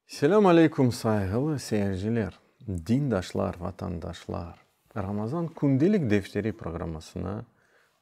Selâm aleyküm sayğılı seyirciler, dindaşlar, vatandaşlar! Ramazan kündelik defteri programmasına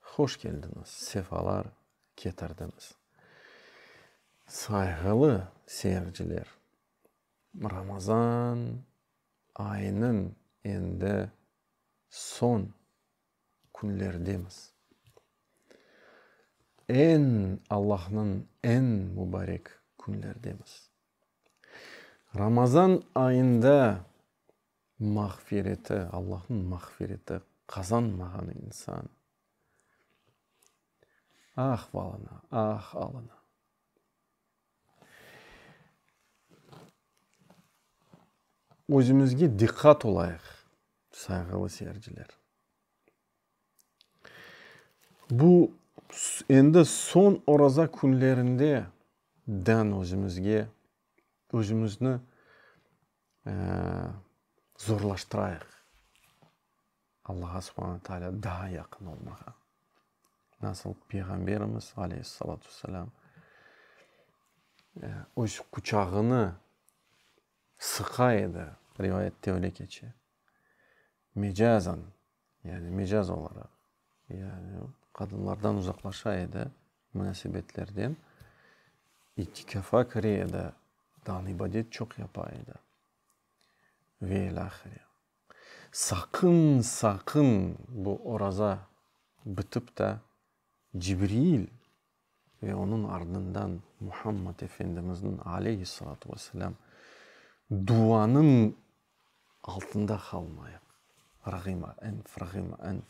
hoş keldiñiz, sefalar ketirdiñiz. Sayğılı seyirciler, Ramazan ayınıñ endi soñ künlerdemiz. Eñ Allahnıñ eñ mubarek künlerdemiz. Ramazan ayında mağfireti, Allahnıñ mağfireti qazanmağan insan ah valına, ah alına. Özümizge diqqat olayıq, sayğılı seyirciler. Bu endi soñ Oraza künlerinde dern özümizge, özümizni zorlaştırayıq. Allağa subhana taalâ daa yaqın olmağa. Nasıl Peyğamberimiz aleyhi salatu ve selâm öz quçağını sıqa edi, rivayette öyle keçe, mecazan, yani mecaz olaraq, yani qadınlardan uzaqlaşa edi, munasebetlerden, itikâfa kire edi, ibadet çoq yapa edi ve ilâhre. Saqın, saqın bu oraza bitip ta Cibril ve onıñ ardından Muhammad Efendimizniñ, aleyhi salâtu ve selâm, duvanıñ altında qalmayıq. Rağima enf, rağima enf.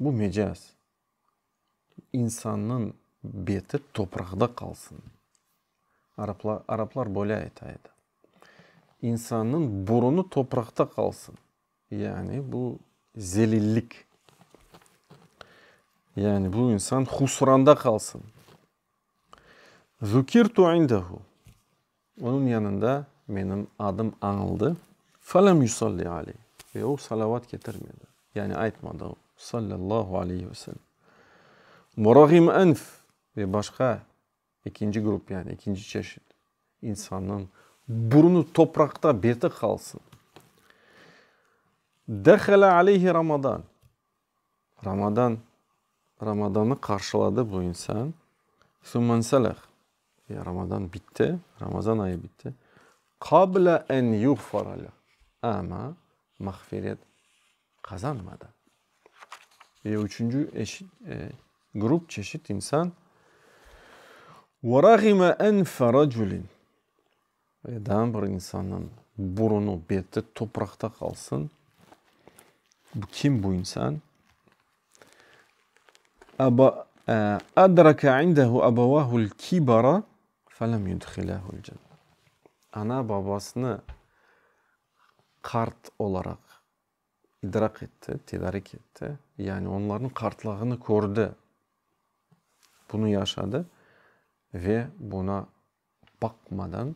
Bu mecaz. İnsannıñ beti topraqda qalsın. Araplar, araplar böyle ayta edi. İnsannıñ burunı topraqta qalsın. Yani bu zelillik. Yani bu insan husranda qalsın. Zukirtu indehu. Onıñ yanında menim adım añıldı. Felem yusalli aleyh. Ve o, salavat ketirmedi. Yani aytmadı o, sallallahu aleyh ve selem. Murağim enf. Ve başqa, ekinci grup, yani ekinci çeşit, insannıñ burnu topraqta, beti qalsın. Dehele aleyhi Ramadan. Ramadan, Ramadanı qarşıladı bu insan. Summenselâh, ya Ramadan bitti, Ramazan ayı bitti. Qabla en yuğfaralâh, amma mağfiret qazanmadı. Ve üçünci eşit, grup, çeşit insan, Ve râğime enfe raculin, Edan bir insannıñ burunı, beti topraqta qalsın, bu kim bu insan? Aba, e, adrake indehu abavahul kibara felem yudhilehul cenne. Ana babasını qart olaraq idrak etti, tedarik etti, yani onlarnıñ qartlığını kördi, bunı yaşadı ve buna baqmadan,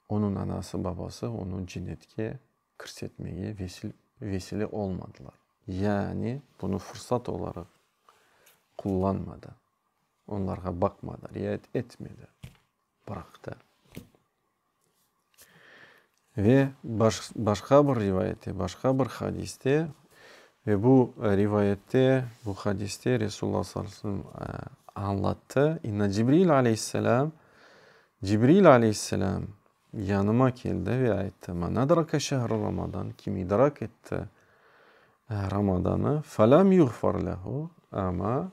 onıñ anası-babası onı cennetke kirsetmege vesile olmadılar, yani bunı fırsat olaraq qullanmadı, onlarğa baqmadı, riayet etmedi, bıraqtı. Ve başqa bir rivayette, başqa bir hadiste, ve bu rivayette, bu hadiste Resulullah sallallahu aleyhi ve sellem añlattı, İnna Cibril aleyhisselam, Cibril aleyhisselam yanıma keldi ve ayttı, Ma nadrake şehru Ramadan, kim idrak etti Ramadanı, fe lem yuğfar lehu, amma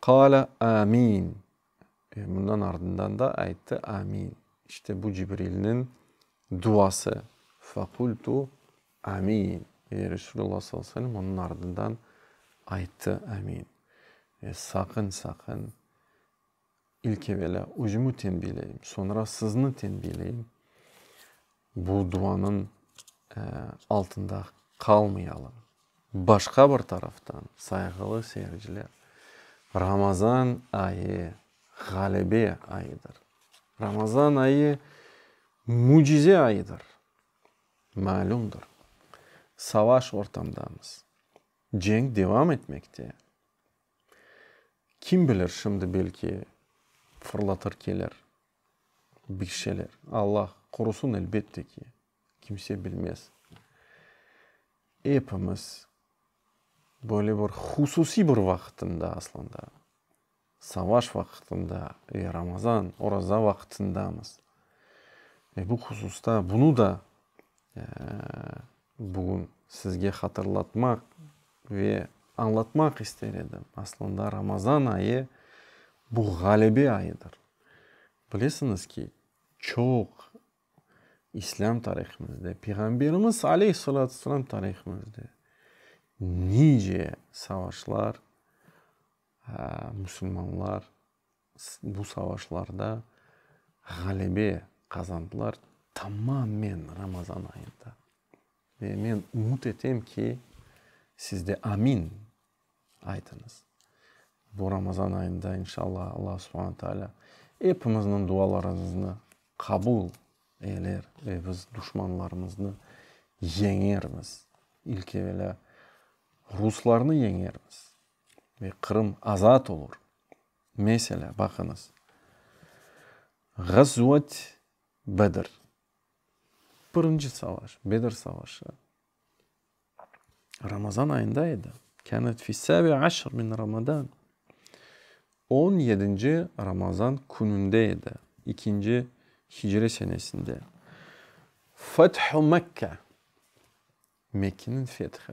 Qâle, Amin! Ve bundan ardından da ayttı, Amin! İşte bu Cibrilniñ duası. Fekultu, Amin! Ve Resulullah sallallahu aleyhi ve sellem onıñ ardından ayttı, Amin! Ve saqın, saqın! İlk evelâ özümü tenbiyleyim, soñra sizni tenbiyleyim, bu duanıñ altında qalmayalım. Başqa bir taraftan, sayğılı seyirciler, Ramazan ayı ğalebe ayıdır. Ramazan ayı mücize ayıdır. Malümdir, savaş ortamdamız, cenk devam etmekte. Kim bilir, şimdi belki fırlatır keler bir şeyler. Allah qorusın, elbette ki, kimse bilmez. Epimiz böyle bir hususiy bir vaqıtında aslında, savaş vaqıtında ve Ramazan, Oraza vaqıtındamız. Ve bu hususta, bunu da Bugün sizge hatırlatmaq ve añlatmaq ister edim, aslında Ramazan ayı, bu ğalebe ayıdır. Bilesiñiz ki, çoq İslâm tarihimizde, Peyğamberimiz aleyh salâtu vesselâm tarihimizde nice savaşlar, musulmanlar Bu savaşlarda ğalebe qazandılar tamamen Ramazan ayında. Ve men ümüt etem ki, siz de amin aytıñız. Bu Ramazan ayında, inşallah, Alla subhana taalâ epimizniñ dualarımıznı qabul eyler ve biz duşmanlarımıznı yeñermiz. İlk evelâ ruslarnı yeñermiz ve Qırım azat olur. Meselâ, baqıñız, Ğazvet Bedr, birinci savaş, Bedr savaşı, Ramazan ayında edi, kânet fî sâbi aşr min Ramadan, on yedinci Ramazan kününde edi, ikinci hicre senesinde. Fethu Mekke, Mekkeniñ fethi,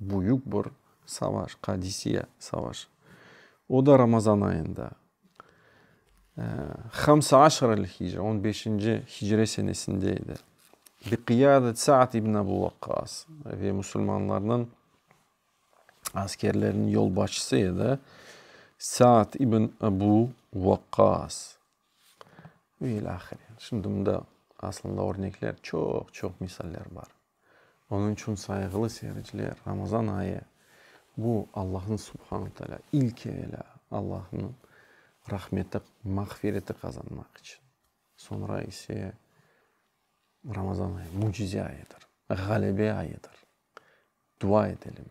Büyük bir savaş, Qadisiye savaşı. O da Ramazan ayında, Hamse aşarel hicre, on beşinci hicre senesinde edi. Bi qıyadet Saad ibn Abu Vaqqas ve musulmanlarnıñ askerleriniñ yolbaşçısı edi. Saad ibn Abu Vaqqas. Ve ilâhre. Şimdi mında aslında örnekler çoq-çoq misaller bar. Onıñ içün, sayğılı seyirciler, Ramazan ayı, bu Allahnıñ Subhana Taalâ, ilk evelâ Allahnıñ rahmeti, mağfireti qazanmaq içün, soñra ise Ramazan ayı, mücize ayıdır, ğalebe ayıdır. Dua edelim.